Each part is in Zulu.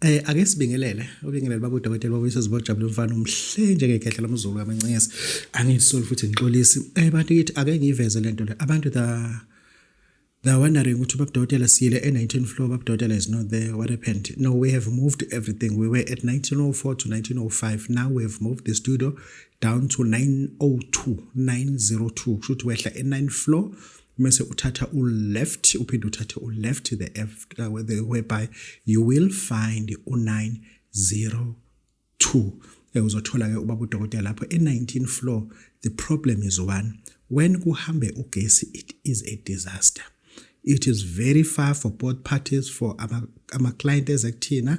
Eh ake sibingelele ubingelele baba udokotela babuyisa zibojabule mfana umhle njengekhehla lomzulu kamancesi angisoli futhi ngixolisi eh bantu kithi ake ngiveze lento le abantu the the wondering ukuthi baba udokotela siyile e19 floor baba udokotela is not there what happened no we have moved everything we were at 1904 to 1905 now we have moved the studio down to 902 902 kusho ukuthi wehla e9 floor mese uthatha u-left uphinde uthathe u-left the after the whereby you will find u-902 eh, uzothola-ke ubaba udokotela lapho e-19 floor the problem is one when kuhambe ugesi it is a disaster it is very far for both parties for ama-client ama eze kuthina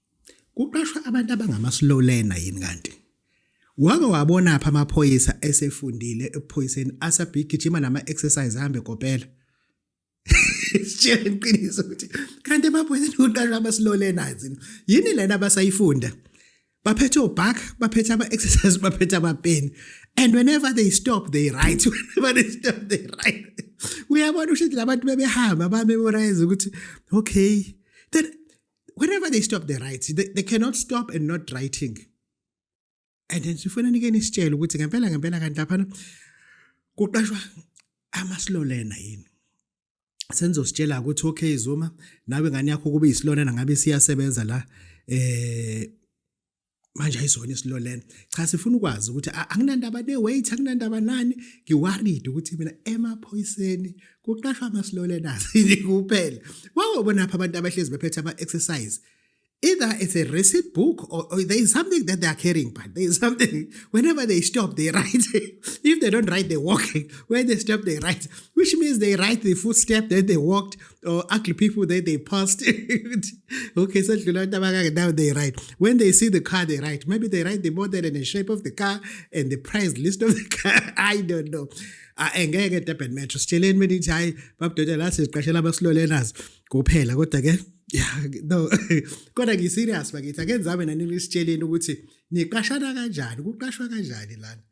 Kuqashwa abantu abangama slow learner yini kanti? Wake wabona apha amaphoyisa esefundile ephoyiseni asabigijima nama exercise hambe kopela. Sitshela iqiniso ukuthi kanti emaphoyiseni kuqashwa ama slow learners yini lena abasayifunda? baphethe obak baphethe ama-exercise baphethe amapeni and whenever they stop they right whenever they stop they right uyabona usho ukuthi labantu bebehamba bamemorize ukuthi okay then whenever they stop the rights they, they cannot stop and not writing and then sifuna nikeni isitshele ukuthi ngempela ngempela kanti laphana kuqashwa amasilolena yini senizositshela ukuthi okay Zuma nawe ngani yakho kube isilolena ngabe siyasebenza la eh manje ayizona isilo lena cha sifuna ukwazi ukuthi anginandaba ne-weight anginandaba nani ngiwaride ukuthi mina emaphoyiseni kuqashwa amasilolenas yini kuphela wawobona apha abantu abahlezi bephethe ama-exercise either it's a receipt book or, or there is something that they are carrying but there is something whenever they stop they write if they don't write they walking when they stop they write which means they write the footstep that they walked or ugly people that they passed. okay, so now they write. When they see the car, they write. Maybe they write the model and the shape of the car and the price list of the car. I don't know. Ah, eh, ngeke durban metro sitsheleni mina ithi hhayi babudodela la siziqashela abasilolenazi kuphela kodwa ke ya no kodwa ngiserious bakithi ake nizame nanini sitsheleni ukuthi niqashana kanjani kuqashwa kanjani lana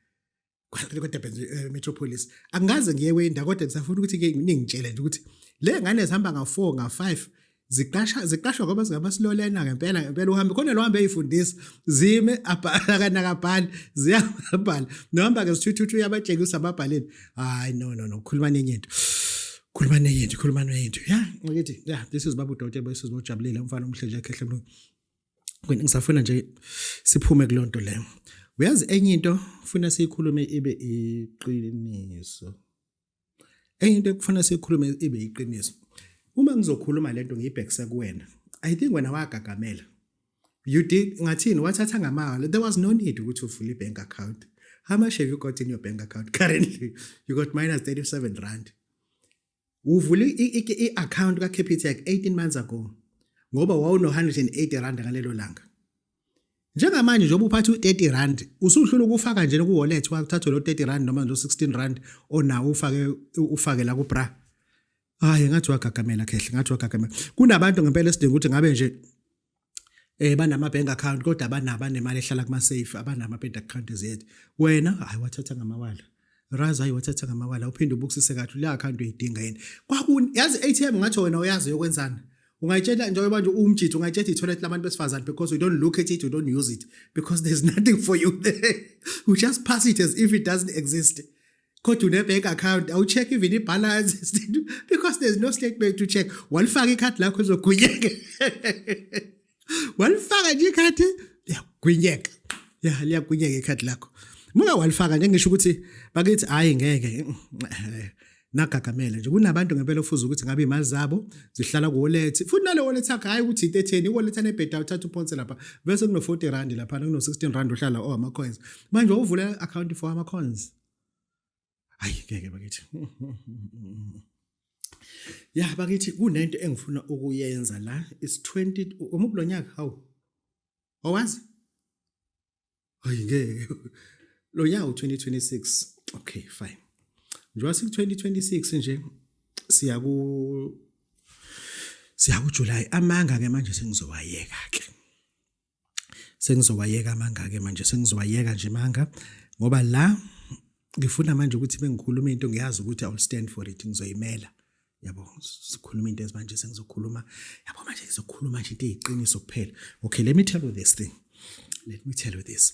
kweDurban eh, Metropolis angikaze ngiye kwenda kodwa ngisafuna ukuthi ke ningitshele nje ukuthi le ngane zihamba nga4 nga5 ziqasha ziqashwa ngoba zingabasilolena ngempela ngempela uhambe khona lo hambe eyifundisa zime abhala kana kabhali ziyabhala nohamba ke sithuthu yabatshengisa ababhaleni hayi no no no khuluma nenye into khuluma nenye into khuluma nenye into ya ngithi ya this is babu dote boys uzojabulile umfana omhle nje ekhehle mlungu Wena ngisafuna nje siphume kulonto le. Uyazi enye into funa siyikhulume ibe iqiniso. Enye into ekufuna siyikhulume ibe iqiniso. Uma ngizokhuluma lento ngiyibhekise kuwena. I think wena wagagamela. You did ngathini wathatha ngamahhala. There was no need ukuthi uvule ibank account. How much have you got in your bank account currently? You got minus 37 rand. uvule i-account ka-capitec 18 months ago ngoba wawuno-180 rand ngalelo langa njengamanje njengoba uphatha u-30 rand usuhlula ukufaka nje ku-wallet wathathwe lo-30 rand noma lo-16 rand onawo ufake ufake la kubra hayi ngathi wagagamela khehle ngathi wagagamela kunabantu ngempela esidinga ukuthi ngabe nje eh banama bank account kodwa banabo anemali ehlala kuma safe abanama bank account zethu wena hayi wathatha ngamawala razi hayi wathatha ngamawala uphinde ubukisise kathi le account uyidinga yini kwakuni yazi ATM ngathi wena uyazi yokwenzana ungayitshela njengoba manje uwumjitha ungayitshela i-toilet labantu besifazane because you don't look at it you don't use it because there's nothing for you there you just pass it as if it doesn't exist kodwa une-bank account awu-check even i-balance because there's no statement to check walifaka ikhadi lakho lizogwinyeka walifaka nje ikhadi liyagwinyeka ya liyagwinyeka ikhadi lakho muka walifaka nje ngisho ukuthi bakithi hhayi ngeke nagagamele nje kunabantu ngempela ofuza ukuthi ngabe imali zabo zihlala kuwallet futhi nale wallet yakhe hayi ukuthi into etheni iwallet anebheda uthatha uphonse lapha bese kuno-40 rand laphana kuno-16 rand uhlala oh ama-coins manje uvule account for ama cons hayi ngeke bakithi ya bakithi kunento engifuna ukuyenza la is 20 umuphi lo nyaka hawu owazi hayi ngeke lo nyaka u2026 okay fine njengoba siku 2026 nje siya ku siya ku July amanga ke manje sengizowayeka ke sengizowayeka amanga-ke manje sengizowayeka nje manga ngoba la ngifuna manje ukuthi bengikhuluma into ngiyazi ukuthi iwill stand for it ngizoyimela yabo sikhuluma into ezimanje sengizokhuluma yabo manje ngizokhuluma nje into eyiqiniso kuphela okay let me tell you this thing let me tell you this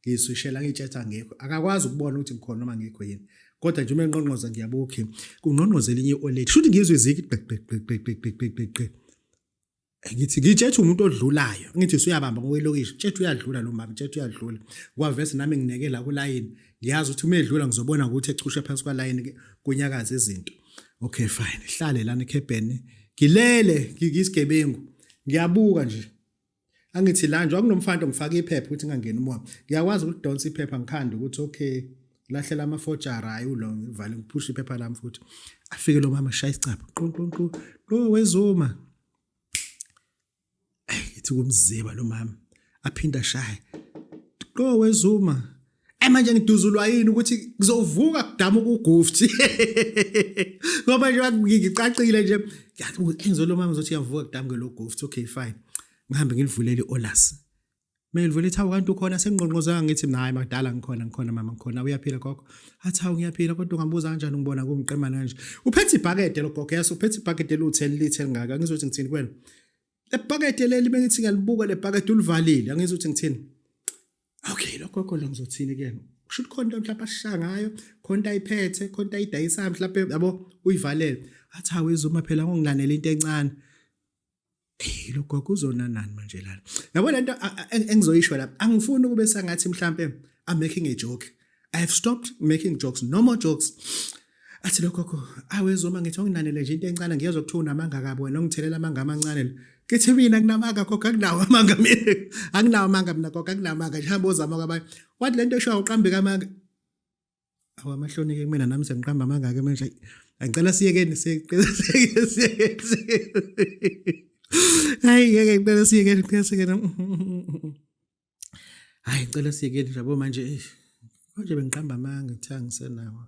ngiyiswishela ngiyitshetha ngekho akakwazi ukubona ukuthi ngikhona noma ngekho yini kodwa nje uma enqonqoza ngiyabuka okay kungqonqoza elinye i-oledi shuthi ngizwe iziki gqigqigqigqigqigqigqigqi ngithi ngitshethe umuntu odlulayo ngithi usuyabamba ngokwelokishi tshethe uyadlula lo mama tshethe uyadlula kwavese nami ngineke la kulayini ngiyazi ukuthi uma edlula ngizobona ukuthi echushe phansi kwalayini kunyakaza izinto okay fine hlale lana ekhebheni ngilele ngiyisigebengu ngiyabuka nje angithi la nje wakunomfanto ngifaka iphepha ukuthi ngangena umoya ngiyakwazi ukudonsa iphepha ngikhanda ukuthi okay lahlela amafojara hayi ulo ngivale ngiphushe iphepha lami futhi afike lo mama shaya isicapha qonqonqo lo wezuma ayi ithi kumziba lo mama aphinda shaye lo wezuma Eh manje ngiduzulwa yini ukuthi kuzovuka kudama ukugufthi. Ngoba nje ngicacile nje engizolo mama ngizothi yavuka kudama ke lo gufthi okay fine. Ngihambe ngilivulele olas. Mina ngivule ithawu kanti ukhona sengqonqozanga ngithi nayi makudala ngikhona ngikhona mama ngikhona uyaphila gogo. Athi hawu ngiyaphila kodwa ungambuza kanjani ngibona kumqemana kanje. Uphethe ibhakede lo gogo yaso uphethe ibhakede lu 10 lithe lingaka ngizothi ngithini kwena. lebhakede leli bengithi ngiyalibuka lebhakede ulivalile angizi ukuthi ngithini okay lokho lokho lo ngizothini kuyena usho ukuthi khona mhlawumbe ashaya ngayo khona ayiphethe khona ayidayisayo mhlawumbe yabo uyivalele athi hawe izuma phela ngongilanela into encane hey lo gogo uzona nani manje lana yabo lento engizoyisho la angifuni ukube sangathi mhlambe i'm making a joke i have stopped making jokes no more jokes athi lo gogo awezoma ngithi onginanele nje into encane ngiyezwa kuthiwa unamanga kabi wena ongithelela amanga amancane lo ngithi mina nginamanga gogo anginawo amanga mina anginawo amanga mina gogo anginawo amanga nje hamba ozama kwabanye wathi le nto eshiwa uqambeka amanga awamahlonike kumina nami sengiqamba amanga ke manje angicela siyekeni siyekeni hayi ngeke ngicela siyekeni ngicela siyekeni hayi ngicela siyekeni yabo manje eish konje bengiqamba amanga kuthiwa ngisenawo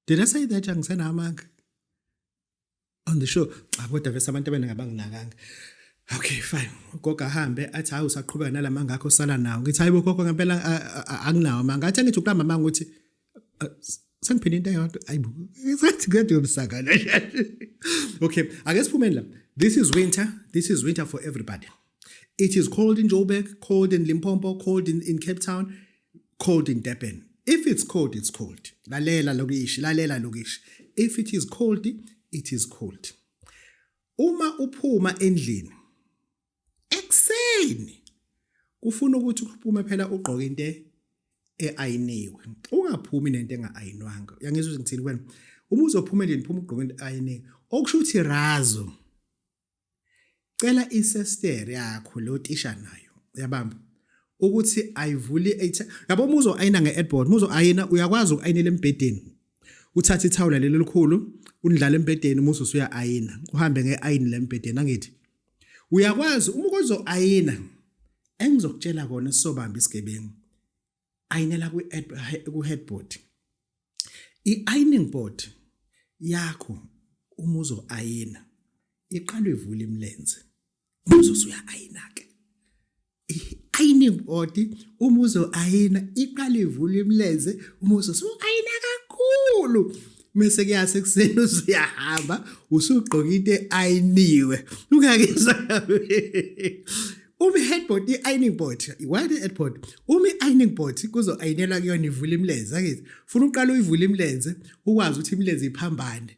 did i say that angisenawo amanga on the show cha kodwa vese abantu abaningi abanginakanga okay fine ugogo ahambe athi hayi usaqhubeka nalamanga akho sala nawo ngithi hayi bogogo ngempela anginawo amanga athi angithi uqamba amanga ukuthi Äh, Sangiphinde into eyodwa ayibo sengathi kade yomsakana okay ake siphumeni la this is winter this is winter for everybody it is cold in joburg cold in limpopo cold in, in cape town cold in durban if it's cold it's cold lalela lokishi lalela lokishi if it is cold it is cold uma uphuma endlini ekuseni kufuna ukuthi uphume phela ugqoke into eayiniwe ungaphumi nento engaayinwanga uyangizwa ukuthi ngithini kuwena uma uzophuma endlini phuma ugqoke into eayiniwe okusho ukuthi razo cela isester yakho lo tisha nayo uyabamba ukuthi ayivuli yabo muzo ayina ngeadboard muzo ayina uyakwazi ukuayinela embedeni uthatha ithawula leli likhulu undlala embedeni muzo usuya ayina uhambe ngeayini lembedeni angithi uyakwazi uma ukozo ayina engizokutshela kona sobamba isigebengu ayinela ku ku headboard i ironing board yakho uma uzo ayina iqalwe ivula imilenze uzosuya ayina ke ironing body uma uzoayina iqala ivula imilenze uma uzosuayina kakhulu mese kuyase kuseni usuyahamba usugqoka into eayiniwe ungakezwa Umi headboard i-ironing board why the headboard umi ironing board kuzo ayinelwa kuyona ivula imilenze akithi funa uqala uyivula imilenze ukwazi ukuthi imilenze iphambane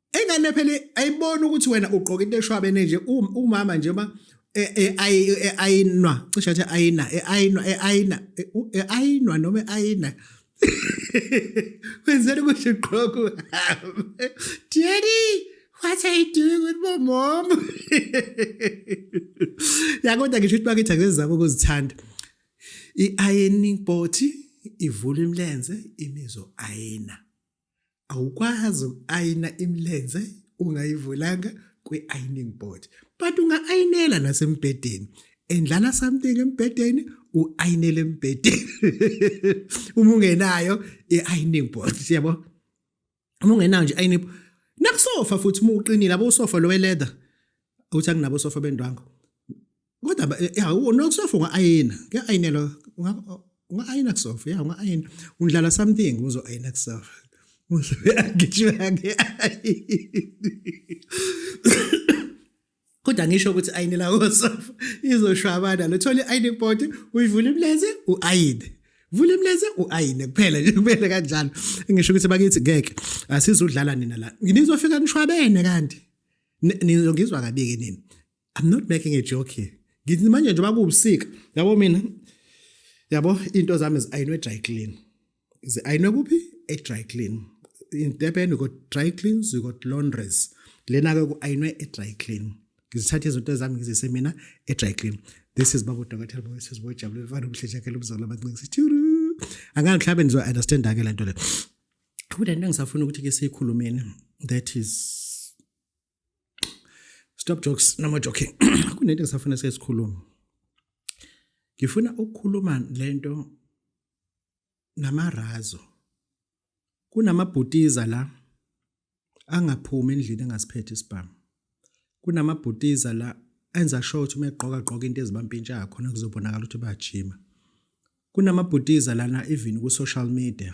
Ingane phela ayibona ukuthi wena ugqoka into eshwabene nje um, umama nje uma e, e, e, ayinwa cishe athi ayina ayinwa ayina ayinwa noma ayina wenzela ukuthi ugqoke uhambe daddy what are you doing with my mom yakodwa ngisho ukuthi bakithi akezizama ukuzithanda i-ironing body ivula imilenze imizo ayina awukwazi uku-ayina imilenze ungayivulanga kwi-ironing board but unga-ayinela nasembhedeni endlala something embhedeni u-ayinele embhedeni uma ungenayo i-ironing board siyabo uma ungenayo nje i-ironing board nakusofa futhi uma uqinile abo usofa lo we-leather uthi akunabo sofa bendwango Kodwa ba- eh, ya u- nokusofa unga-ayina kuya-ayinelwa unga- unga-ayina kusofa ya unga-ayina undlala something uzo-ayina kusofa uyagijima nge-ayini kodwa ngisho ukuthi ayinela kosofa izoshwabana lo thola i-ayini body uyivula imleze u-ayine vula imleze u-ayine kuphela nje kumele kanjalo ngisho ukuthi bakithi ngeke asizudlala nina la nizofika nishwabene kanti Ni- nizongizwa kabi-ke nini I'm not making a joke here. Ngithi manje njengoba kuwubusika, yabo mina yabo into zami ziyinwe dry clean. Ziyinwe kuphi? E dry clean. In Durban we got dry cleans, we got laundries. Lena ke kuyinwe e dry clean. Ngizithatha izinto zami ngizise mina e dry clean. This is Babu Dokotela Boy Sis Boy Jabulile Fana Mhleja ke lomzalo abancinci. Tjuru. Angani mhlawumbe nizo understand ke lento le. Kodwa into engisafuna ukuthi ke siyikhulumeni that is stop jokes no more joking kunento ngisafuna sesikhuluma ngifuna ukukhuluma lento namarazo kunamabhutiza la angaphumi endlini engasiphethe isibhamu kunamabhutiza la enza sure ukuthi uma egqoka gqoka into ezibampintshayo khona kuzobonakala ukuthi bayajima kunamabhutiza lana even ku-social media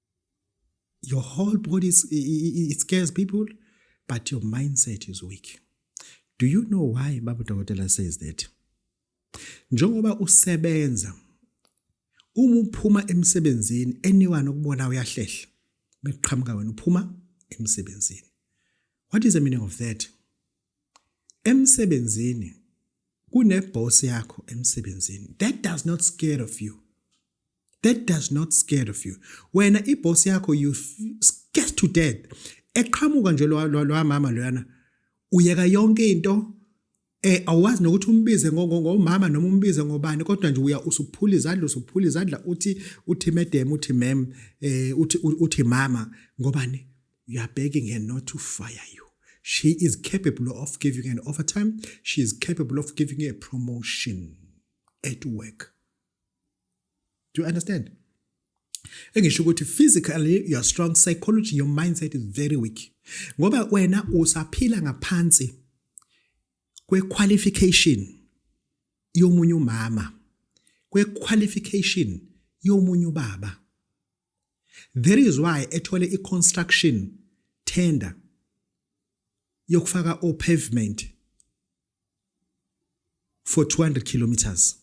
your whole body is, it scares people but your mindset is weak do you know why baba dokotela says that njengoba usebenza uma uphuma emsebenzini anyone okubona uyahlehla bekuqhamuka wena uphuma emsebenzini what is the meaning of that emsebenzini kuneboss yakho emsebenzini that does not scare of you that does not scared of you wena iboss yakho you scared to death eqhamuka nje lo mama loyana uyeka yonke into eh awazi nokuthi umbize ngomama noma umbize ngobani kodwa nje uya usuphula izandla usuphula izandla uthi uthi madam uthi ma'am eh uthi uthi mama ngobani you are begging her not to fire you she is capable of giving an overtime she is capable of giving you a promotion at work do you understand engisho ukuthi physically you're strong psychology your mindset is very weak ngoba wena usaphila ngaphansi kwequalification yomunye umama kwequalification yomunye ubaba there is why ethole iconstruction tender yokufaka o pavement for 200 kilometers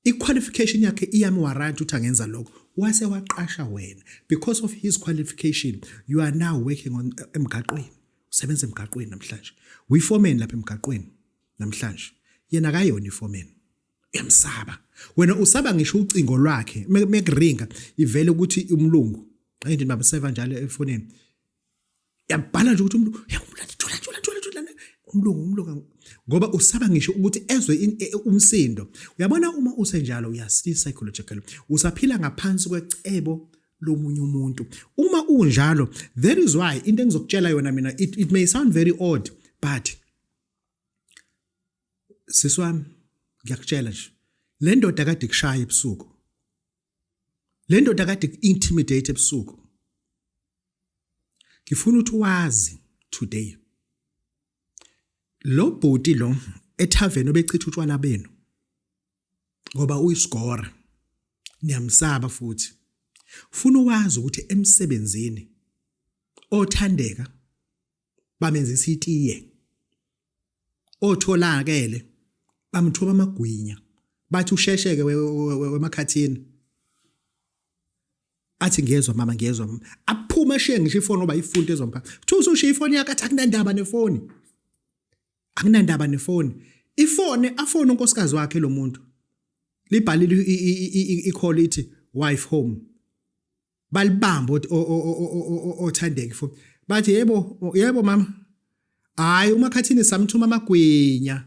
iqualification yakhe iyami warrant ukuthi angenza lokho wase waqasha wena because of his qualification you are now working on eh, emgaqweni usebenza emgaqweni namhlanje uyiforeman lapha emgaqweni namhlanje yena akayona iforeman uyamsaba wena usaba ngisho ucingo lwakhe mekuringa ivele ukuthi umlungu ngithi baba seva njalo efonini yabhala nje ukuthi umuntu yakumlanda thola thola thola thola umlungu umlungu ngoba usaba ngisho ukuthi ezwe e, umsindo uyabona uma usenjalo uyasi psychological usaphila ngaphansi kwecebo lomunye umuntu uma unjalo that is why into engizokutshela yona mina it, it may sound very odd but siswami ngiyakutshela nje le ndoda kade kushaya ebusuku le ndoda kade intimidate ebusuku ngifuna ukuthi wazi today lo bhuti lo ethaveni obechitha utshwala benu ngoba uyisigora niyamsaba futhi funa wazi ukuthi emsebenzini othandeka bamenzisa itiye otholakele bamthoba amagwinya bathi ushesheke wemakhathini athi ngiyezwa mama ngiyezwa mama aphuma eshiye ngisho ifoni oba ifunti ezompha kuthiwa usushiya ifoni yakhe athi akunandaba nefoni akunandaba nefoni ifone afone unkosikazi wakhe lo muntu libhalile ikholithi wife home balibamba othandeki fo bathi yebo yebo mama hayi umakhathini samthuma amagwinya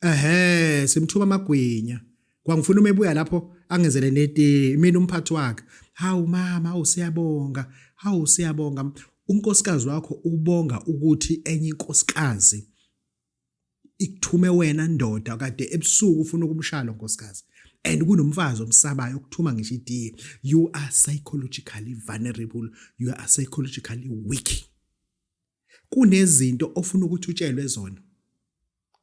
ehe simthuma amagwinya kwangifuna uma ebuya lapho angenzele neti mina umphathi wakhe hawu mama hawu siyabonga hawu siyabonga unkosikazi wakho ubonga ukuthi enye inkosikazi ikuthume wena ndoda kade ebusuku ufuna ukumshaya lo nkosikazi and kunomfazi omsabayo okuthuma ngisho itiye you are psychologically vulnerable you are psychologically weak kunezinto ofuna ukuthi utshelwe zona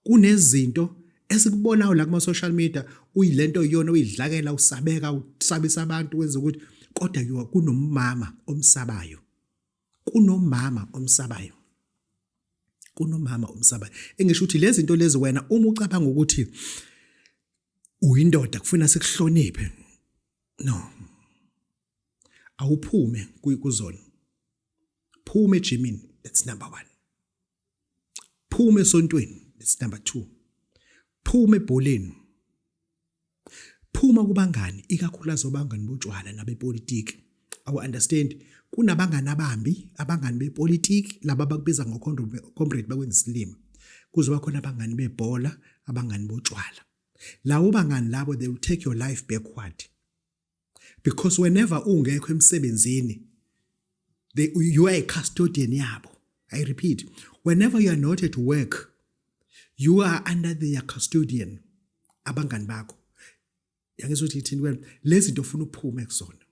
kunezinto esikubonayo la kuma social media uyilento iyona uyidlakela usabeka usabisa abantu wenza ukuthi kodwa kunomama omsabayo kunomama omsabayo kunomama omsabayo engisho ukuthi lezi zinto lezi wena uma ucabanga ukuthi uyindoda kufuna sikuhloniphe no awuphume kuzona phuma ejimini that's number 1 phuma esontweni that's number 2 phuma ebholeni phuma kubangani ikakhulukazi obangani botshwala nabepolitiki awu understand kunabangani abambi abangani bepolitiki laba bakubiza ngocomrade bakwenza isilima kuzoba khona abangani bebhola abangani botshwala lawo bangani labo they will take your life backward because whenever ungekho emsebenzini they you are a custodian yabo i repeat whenever you are not at work you are under their custodian abangani bakho yangizwa ukuthi ithini wena lezi zinto ufuna uphume kuzona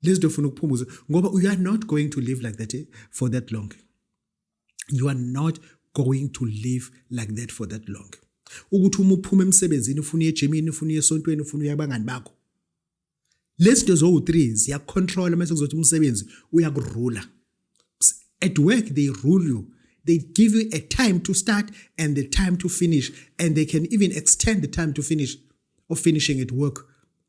lezi zinto ufuna ukuphumuza ngoba you are not going to live like that eh, for that long you are not going to live like that for that long ukuthi uma uphuma emsebenzini ufuna uye ejimini ufuna uye esontweni ufuna uye abangani bakho lezi zinto zowu-three ziyakucontrola mase kuzothi umsebenzi uyakurula at work they rule you they give you a time to start and the time to finish and they can even extend the time to finish of finishing at work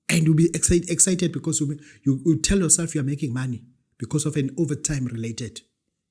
and you'll be excited, excited because you, you, you tell yourself you're making money because of an overtime related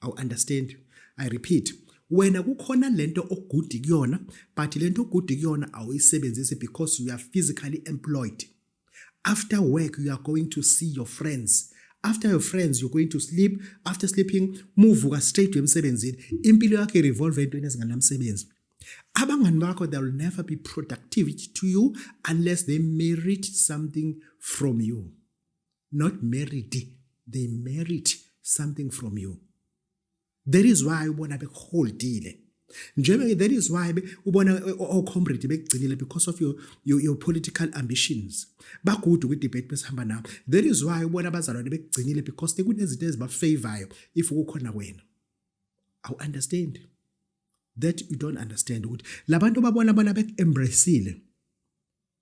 awu understand i repeat wena kukhona lento ogudi kuyona but lento ogudi kuyona awuyisebenzisi because you are physically employed after work you are going to see your friends after your friends you're going to sleep after sleeping muvuka straight emsebenzini impilo yakhe revolve entweni ezinganamsebenzi abangani bakho they will never be productive to you unless they merit something from you not married they merit something from you that is why ubona bekuholdile njebe that is why ubona ocomrade bekugcinile because of your, your, your political ambitions bagudu kwi-debate besihamba nawo that is why ubona abazalwane bekugcinile because tekunezinto ezibafavorayo if kukhona wena awu understand that you don't understand ukuthi labantu babona bona bek-embracile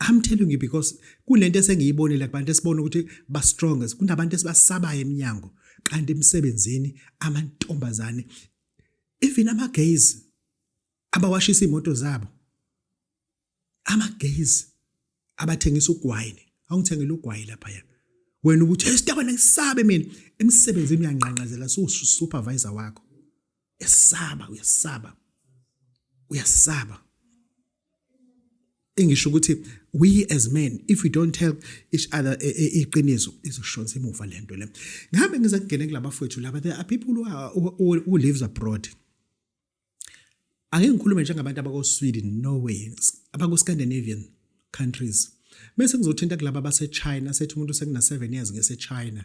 I'm telling you because kunento esengiyibonile kubantu esibona ukuthi ba strong kunabantu esibasabayo eminyango kanti emsebenzini amantombazane even ama gays abawashisa imoto zabo ama gays abathengisa ugwayini awungithengela ugwayi lapha ya wena ukuthi esitabana ngisabe mina emsebenzini uyanqanqazela so supervisor wakho esaba uyasaba uyasaba engisho ukuthi we as men if we don't tell each other e, e, iqiniso izoshonza emuva lento le ngihambe ngiza kungena kulabafowethu laba there are people who, are, who, who lives abroad ake ngikhulume njengabantu abako-sweden norway abako-scandinavian countries bese ngizothinta kulaba basechina sethi umuntu sekuna-seven years ngesechina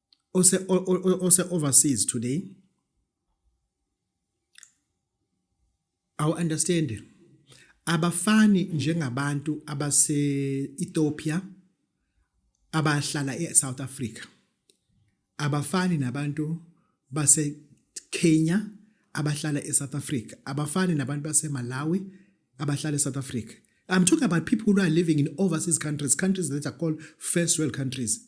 ose ose overseas today awu understand abafani njengabantu abase Ethiopia abahlala eSouth Africa abafani nabantu base Kenya abahlala eSouth Africa abafani nabantu base Malawi abahlala eSouth Africa I'm talking about people who are living in overseas countries, countries that are called first world countries.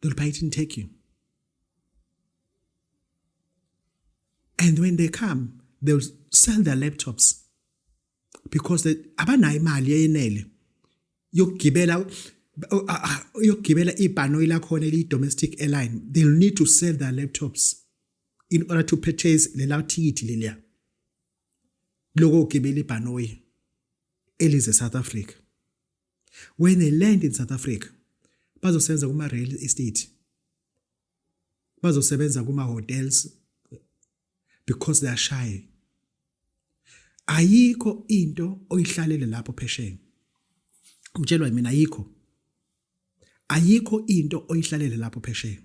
They'll buy it in Turkey. And when they come, they'll sell their laptops because they abanayo imali eyenele yokugibela yokugibela ibhanoyi lakhona eliyi-domestic airline they'll need to sell their laptops in order to purchase lela thikithi leliya lokogibela ibhanoyi elize south africa when they land in south africa bazosebenza kuma-real estate bazosebenza kuma-hotels because they are shy ayikho into oyihlalele lapho phesheni ngitshelwa mina ayikho ayikho into oyihlalele lapho phesheni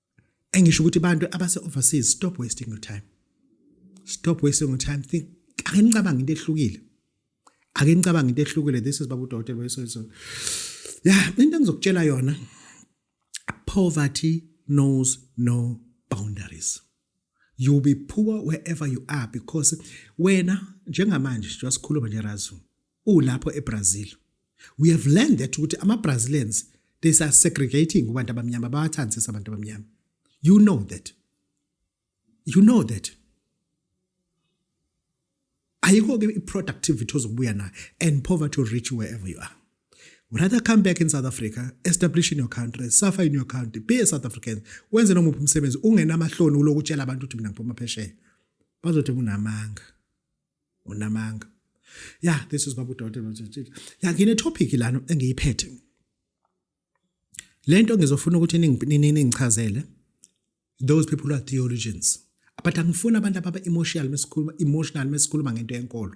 engisho ukuthi abantu abase overseas stop wasting your time stop wasting your time think ake nicabanga into ehlukile ake nicabanga into ehlukile this is babu dokotela wesoyiso ya into engizokutshela yona poverty knows no boundaries you be poor wherever you are because wena njengamanje njengoba sikhuluma nje razu ulapho eBrazil we have learned that ukuthi ama Brazilians they are segregating kubantu abamnyama bawathanda sesa abantu abamnyama you know that you know that ayikho ke iproductivity ozobuya nayo and poverty will reach you wherever you are rather come back in South Africa establish in your country suffer in your country be a South African wenze nomuphi umsebenzi ungenamahloni uloku utshela abantu ukuthi mina ngiphuma phesheya bazothi unamanga unamanga yeah this is babu dot ya ngine topic lana engiyiphethe lento ngizofuna ukuthi ningichazele those people who are theologians but angifuni abantu ababa emotional mesikhuluma emotional mesikhuluma ngento yenkolo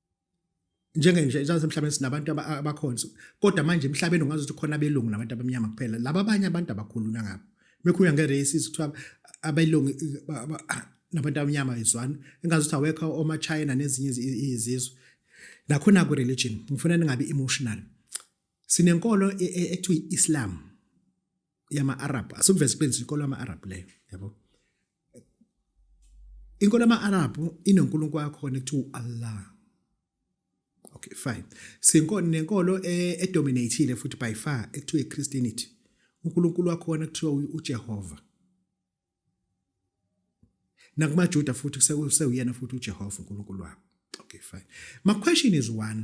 njenge nje njengathi emhlabeni sinabantu abakhonzi kodwa manje emhlabeni ungazi ukuthi khona abelungu nabantu abamnyama kuphela laba abanye abantu abakhulunywa ngabo bekhulunywa nge-races kuthiwa abelungu nabantu abamnyama izwani engazi ukuthi awekho omachina nezinye izizwe nakhona ku-religion ngifuna ningabi emotional sinenkolo e, e, ekuthiwa i-islam yama-arab asukuveza iqiniso inkolo yama-arab leyo yabo inkolo ama-arabhu inonkulunkulu wakhona ekuthiwa u-allah okay fine sinkolo nenkolo e-, edominatile futhi by far ekuthiwa i-christianity unkulunkulu wakhona ekuthiwa ujehova nakumajuda futhi sewuyena futhi ujehova unkulunkulu wabo okay fine my question is one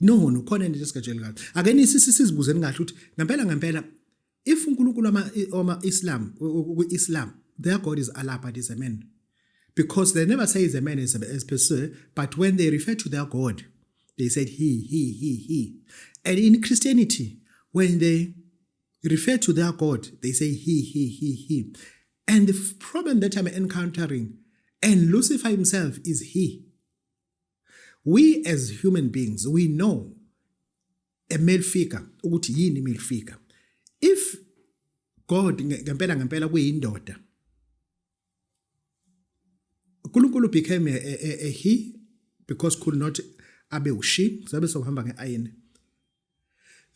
no no khona into esigajele kahle ake nisisizibuzeni kahle ukuthi ngempela ngempela if uNkulunkulu ama ama Islam ku Islam their god is Allah but is a man because they never say is a man as a, as per se but when they refer to their god they said he he he he and in Christianity when they refer to their god they say he he he he and the problem that I'm encountering and Lucifer himself is he we as human beings we know a male figure ukuthi yini male figure if god ngempela ngempela kuyindoda uNkulunkulu became a, a, a, a he because could not abe ushi sabe sohamba ngeayini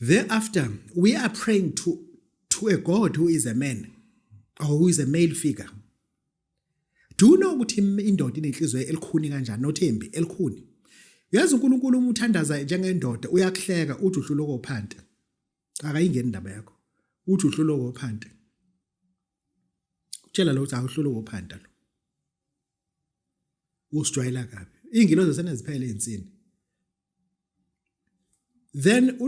thereafter we are praying to to a god who is a man or who is a male figure Do you know ukuthi indoda inenhliziyo elikhuni kanjani nothembi elikhuni? Yazi uNkulunkulu uma uthandaza njengendoda uyakuhleka uthi uhlulwa kophante. Akayingeni indaba yakho. Uthi uhlulwa kophante. Utshela lo uthi awuhlulwa kophante lo. Usijwayela kabi. Iy'ngilozi seneziphele iy'nsini. then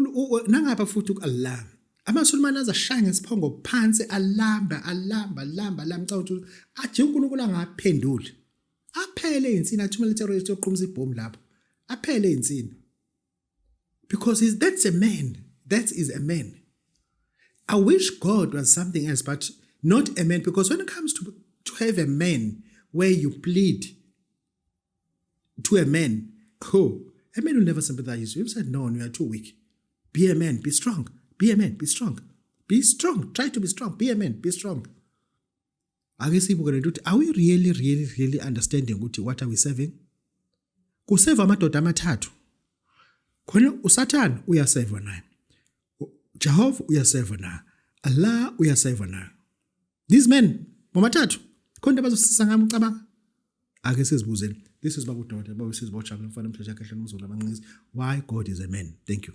nangapha futhi ku-Allah amasulumane azashaya ngesiphongo phansi alamba alamba alamba alamba caba ukuthi aje uNkulunkulu angaphenduli aphele insini athumele terrorist yoqhumisa ibhomu lapho aphele insini because he's, that's a man that is a man i wish god was something else but not a man because when it comes to to have a man where you plead to a man cool a man will never sympathize you said no you are too weak be a man be strong be a man be strong be strong try to be strong be a man be strong ake siyibuke lento ukuthi are we really really really understanding ukuthi what are we serving kuseva amadoda amathathu khona usathane uyaseva naye jehova uyaseva naye allah uyaseva naye these men bomathathu khona into abazosisa ngami ucabanga ake sizibuzeni this is babu dota babu sizibojabula mfana umsheshe kahle nomzulu abanqinisi why god is a man thank you